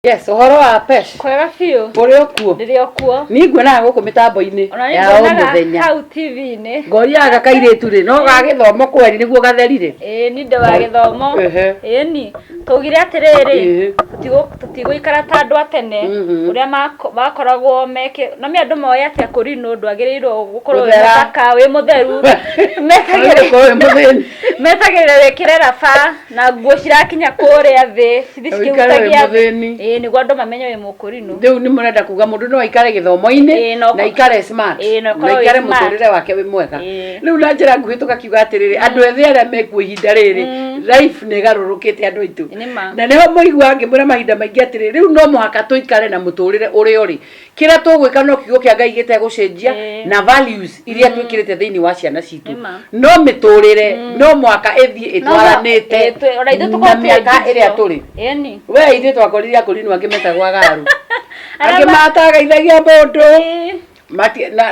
Yes, ũhoro wa Pesh. Kwega biũ. Ũrĩ o kuo. Ndĩrĩ o kuo. Niĩ nguonaga gũkũ mĩtambo-inĩ ya o mũthenya. Hau TV-inĩ. Ngoria ga kairĩtu rĩ, no ga gĩthomo kweri nĩguo gatheri rĩ. Ĩĩ ni ndĩ wa gĩthomo. Ĩĩ ni. Tũgire atĩrĩrĩ, tũtigũikara ta andũ a tene mm-hmm. ũrĩa makoragwo meke. No me andũ moĩ atĩ akũri nĩ ũndũ agĩrĩirwo gũkorwo wĩ mũthaka, wĩ mũtheru. Metagĩrĩra wĩkĩre raba. na nguo cirakinya kũrĩa thĩ cithi Ũikare wĩ cikĩhutagia thĩ mũthĩni. ĩĩ nĩguo andũ mamenye wĩ mũkũrinũ rĩu nĩ mũrenda kuga mũndũ no aikare gĩthomo-inĩ Ĩĩ, no- na aikare smart Ĩĩ, na ũkorwo na wĩ aikare smart. mũtũrĩre wake wĩ mwega Ĩĩ. rĩu na njĩra nguhĩ tũkakiuga atĩrĩrĩ andũ ethĩ arĩa mekuo ihinda rĩrĩ life nĩ ĩgarũrũkĩte andũ aitũ Nĩ ma. na nĩho mũigua ngĩmwĩra mahinda maingĩ atĩrĩrĩ rĩu no mũhaka tũikare na mũtũrĩre ũrĩa ũrĩ kira tugwika no kiugo kia ngai gitegucenjia eh. na values iria mm. twikirite thiini wa ciana citu no miturire mm. no mwaka ithie itwaranite eh, na miaka iria turi we ithuĩ twakorire akorinu angĩ metagwa garu angĩ matagaithagia mũndũ eh.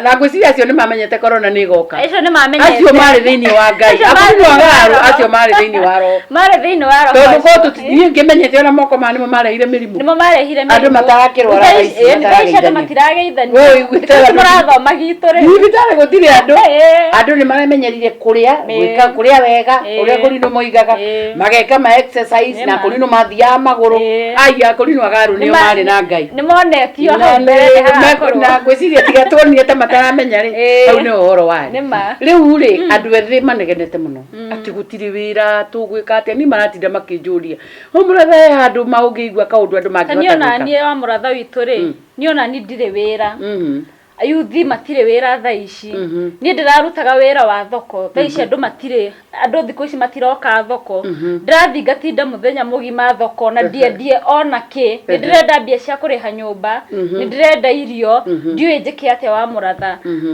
na ngwĩciria acio nĩ mamenyete korona nĩ goka acio marĩ thĩinĩ wa ngai akorwo agaru acio marĩ thĩinĩ wa roho tondũ niä ngä menyete ona moko maya nä mo mareire mä rimå nĩmo marehire Andũ matarakĩrwara Thaa ici- aici, thaa ici andũ matarageithania. matirageithania Woi, gwĩtaga Thaa ici andũ- mũrathoma gitũ rĩ thibitarä gå tirä andå Eh. andå nä maramenyerire kå rä a Eh. gwä ka kå rä a wega Eh. å rä a kå rinå moigaga Eh. mageka ma exercise Nĩ na ma. kå rinå mathiaga magå rå Eh. aya kå rinå agarå nä o Nĩma- marä na ngai nĩmonetio Na hau nĩ- mbere nĩ na- hagakorwo. na ngwĩciria tiga tuonire ta mataramenya rĩ Eh. hau nĩ ũhoro warĩ Nĩ ma. rĩu rĩ andũ ethĩ manegenete mũno Mm. atä gå tirä wä ra tå gwä ka atä ni maratinda makä njå ria å må ratha he handå ma å ngä igua kaå ndå andå Ta niĩ ona mangä niĩ wa mũratha witũ rĩ Mm. niĩ ona niĩ ndirĩ wĩra ayuthi matirĩ wĩra thaa ici Mhm. niĩ ndĩrarutaga wĩra wa thoko thaa ici andũ matirä andũ thikũ ici matiroka thoko Mhm. ndĩrathiĩ ngatinda mũthenya mũgima thoko na ndiendie ona kĩ nĩ ndĩrenda mbia cia kũrĩha nyũmba Mhm. nĩ ndĩrenda irio Mhm. ndiũĩ njĩke atĩa wa mũratha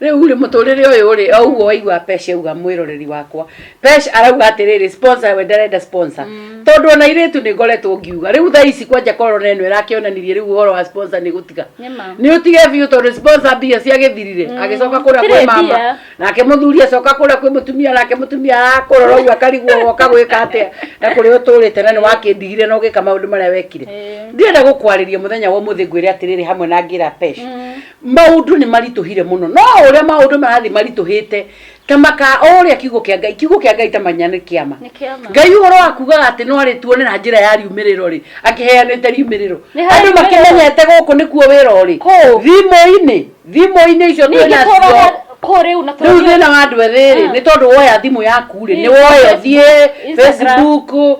Rĩu rĩ mũtũrĩre ũyũ rĩ o ũguo waigua Pesh auga mwĩroreri wakwa Pesh arauga atĩrĩrĩ sponsor we ndarenda sponsor mm. tondũ ona irĩtu nĩ ngoretwo ngiuga rĩu thaa ici kwanja korona ĩno ĩrakĩonanirie rĩu ũhoro wa sponsor nĩ gũtiga nĩ ũtige biũ tondũ sponsor mbia ciagĩthirire mm. agĩcoka kũrĩa kwĩ mama nake mũthuri acoka kũrĩa kwĩ mũtumia nake mũtumia akũrora ũguo akarigwo woka gwĩka atĩa na kũrĩa ũtũrĩte na nĩ wakĩndigire na ũgĩka maũndũ marĩa wekire ndirenda gũkwarĩria mũthenya wa ũmũthĩ ngwĩre atĩrĩrĩ hamwe na ngĩra Pesh mm. Maũndũ nĩ maritũhire mũno, no o ũrĩa maũndũ marathiĩ maritũhĩte, ta makaa o ũrĩa kiugo kĩa Ngai, kiugo kĩa Ngai ta manya nĩ kĩama. Nĩ kĩama. Ngai ũhoro wa kugaga atĩ no arĩtuonera njĩra ya riumĩrĩro rĩ, akĩheanĩte riumĩrĩro. Nĩ harĩ Andũ riumĩrĩro. makĩmenyete gũkũ nĩkuo wĩra ũrĩ. Kũũ? Thimũ-inĩ, thimũ-inĩ icio Ningĩ twĩna cio. tũraga kũ rĩu na Rĩu tũrathiĩ- thĩna wa andũ ethĩ rĩ, Ah. nĩ tondũ woya thimũ yaku rĩ, nĩ Nĩ woya Instagram, ũthiĩ Instagram. Facebook,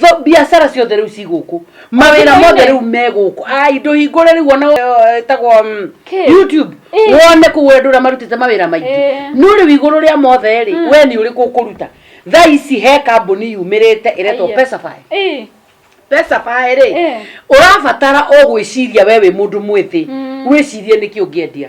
Tho- biacara ciothe rĩu ci gũkũ mawĩra mothe rĩu me gũkũ ai ndũhingũre rĩu ona eh, ĩtagwo mm, Kĩ? youtube Ĩ. wone kũu andũ ũrĩa marutĩte mawĩra maingĩ Ĩ. no rĩu igũrũ rĩa mothe rĩ we nĩ ũrĩkũ ũkũruta thaa ici he kambuni yumĩrĩte ĩretwo Aiya. pesafy Ĩ. pesafy rĩ Ĩ. ũrabatara o gwĩciria we wĩ mũndũ mwĩthĩ wĩcirie nĩkĩ ũngĩendia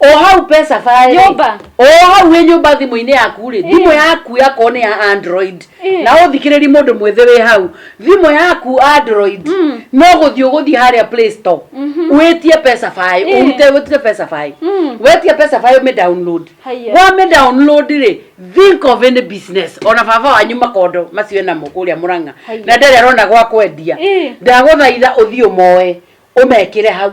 o hau pesa barĩ Nyũmba. o hau wĩ nyũmba thimũ-inĩ yaku rĩ thimũ yaku yakorwo nĩ ya android Eh. na ũthikĩrĩri mũndũ mwĩthĩ wĩ hau thimũ yaku android Mm. no gũthiĩ ũgũthiĩ harĩa play store wĩtie pesa baĩ Eh. ũrute wĩtie pesa baĩ Mm. wetia pesa baĩ ũmĩ download Haiya. wamĩ download rĩ think of any business ona baba wanyu makondo macio enamo kũrĩa mũrang'a Haiya. na ndarĩ arona gwa kwendia Eh. ndagũthaitha ũthiĩ ũmoe ũmekĩre hau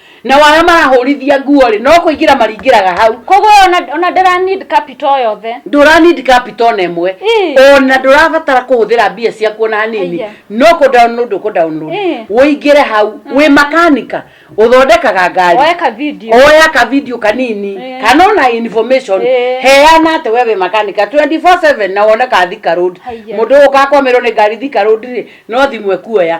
nao arĩa marahũrithia nguo-rĩ no kũingĩra maringĩraga hau koguo ona, ona ndara need capital yothe ndũra need capital ona ĩmwe Ĩ. ona ndũrabatara kũhũthĩra mbia ciaku ona hanini Aya. no kũ download ũkũ download Ĩ. wĩingĩre hau wĩ makanika ũthondekaga ngari oe ka video oya ka video kanini Ĩ. kana ona information Ĩ. heana atĩ we wĩ makanika 24/7 na wone ka thika road Haiya. mũndũ ũkakwamĩrwo nĩ ngari thika road rĩ no thimũ ekuoya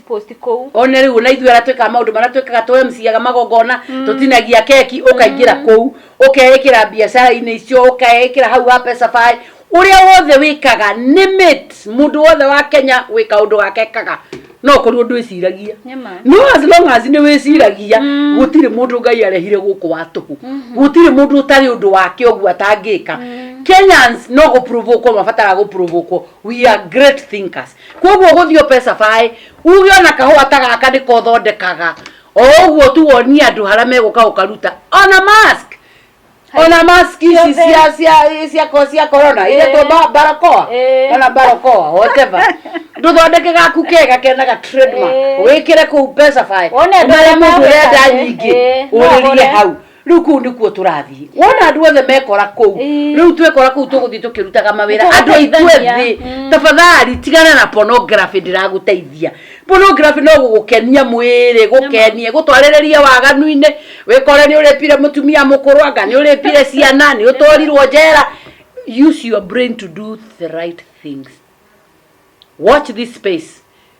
post kũu one rĩu ona ithuĩ aratwĩka maũndũ marĩa twĩkaga tũ MCaga magongona mm. tũtinagia keki ũkaingĩra mm. kũu ũkeĩkĩra biacara-inĩ icio ũkeĩkĩra hau ha Pesafy uria wothe wikaga ni mit mundu wothe wa Kenya wika undu wake kaga no korwo ndu iciragia no as long as ni wiciragia mm. gutire mundu ngai arehire guku watuhu mm-hmm. gutire mundu utari undu wake ugu atangika mm. Kenyans no go provoke ko mabatara go provoke we are great thinkers koguo gũthiĩ ope cabaĩ uge ona kahũa ta gaka nĩko ũthondekaga o ũguo tu wonie andũ harĩa megũka ũkaruta ona mask ona mask ici Ciothe. cia cia cia ko- cia corona iria Eh. twa barakoa Eh. kana barakoa whatever ndũthondeke gaku kega kenaga trademark Eh. wĩkĩre kũu pesa baĩ Wone andũ ũmere arĩa mũndũ ũrenda magũkaga. nyingĩ Eh, no ũrĩrie ũgũre. hau riu kuu nikuo turathii wona andu othe mekora kuu riu twekora kuu tuguthii tukirutaga mawira andu aitwe thi mm. tafadhali tigana na pornography ndiraguteithia pornography no gugukenia mwiri gukenie gutwarireria waganuini wikore ni uripire mutumia mukuru anga ni uripire ciana ni utwarirwo njera use your brain to do the right things watch this space